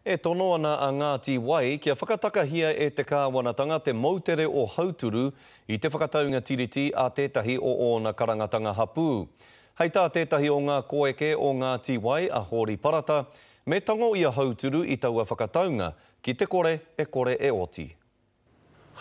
E tono ana a Ngāti Wai kia whakatakahia e te kāwanatanga te moutere o Hauturu i te whakataunga tiriti a tētahi o ōna karangatanga hapū. Hei tā tētahi o ngā koeke o Ngāti Wai, a Hōri Parata, me tango i a Hauturu i taua whakataunga, ki te kore e kore e oti.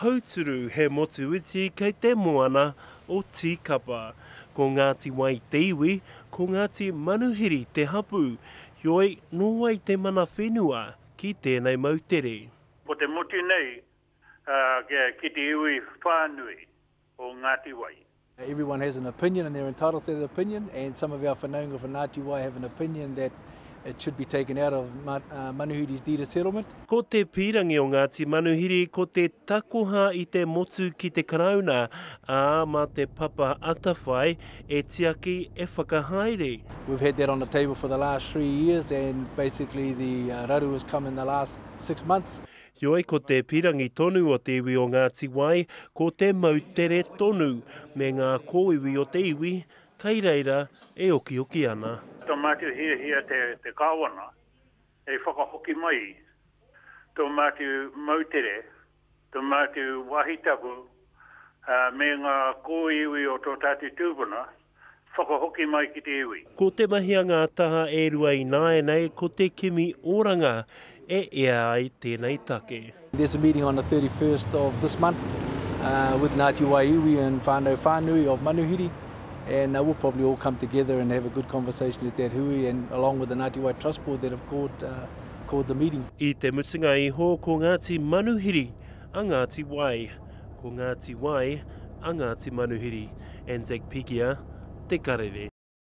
Hauturu he motu iti kei te moana o Tīkapa. Ko Ngāti Wai te iwi, ko Ngāti Manuhiri te hapū, heoi nō wai te mana whenua ki tēnei moutere. Ko te motu nei ki te iwi whānui o Ngāti Wai. Everyone has an opinion and they're entitled to that opinion and some of our whanaunga from Ngāti Wai have an opinion that it should be taken out of uh, Manuhiri's deed of settlement. Ko te pīrangi o Ngāti Manuhiri ko te takoha i te motu ki te karauna, ā, mā te papa atawhai e tiaki e whakahaere. We've had that on the table for the last three years and basically the uh, raru has come in the last six months. Heoi, ko te pīrangi tonu o te iwi o Ngāti Wai, ko te moutere tonu me ngā kōiwi o te iwi, kai reira e okioki ana. Tō mātou hiahia te Kāwana hei whakahoki mai i tō mātou moutere, tō mātou wāhi tapu me ngā kōiwi o tō tātou tūpuna whakahoki mai ki te iwi. Ko te mahi a ngā taha e rua ināianei ko te kimi oranga e ea ai tēnei take. There's a meeting on the 31st of this month with Ngāti Wai iwi and whānau whānui of Manuhiri and we'll probably all come together and have a good conversation at that hui and along with the Ngāti Wai Trust Board that have called the meeting. I te mutunga iho ko Ngāti Manuhiri a Ngāti Wai. Ko Ngāti Wai a Ngāti Manuhiri, Anzac Pegia, te karere.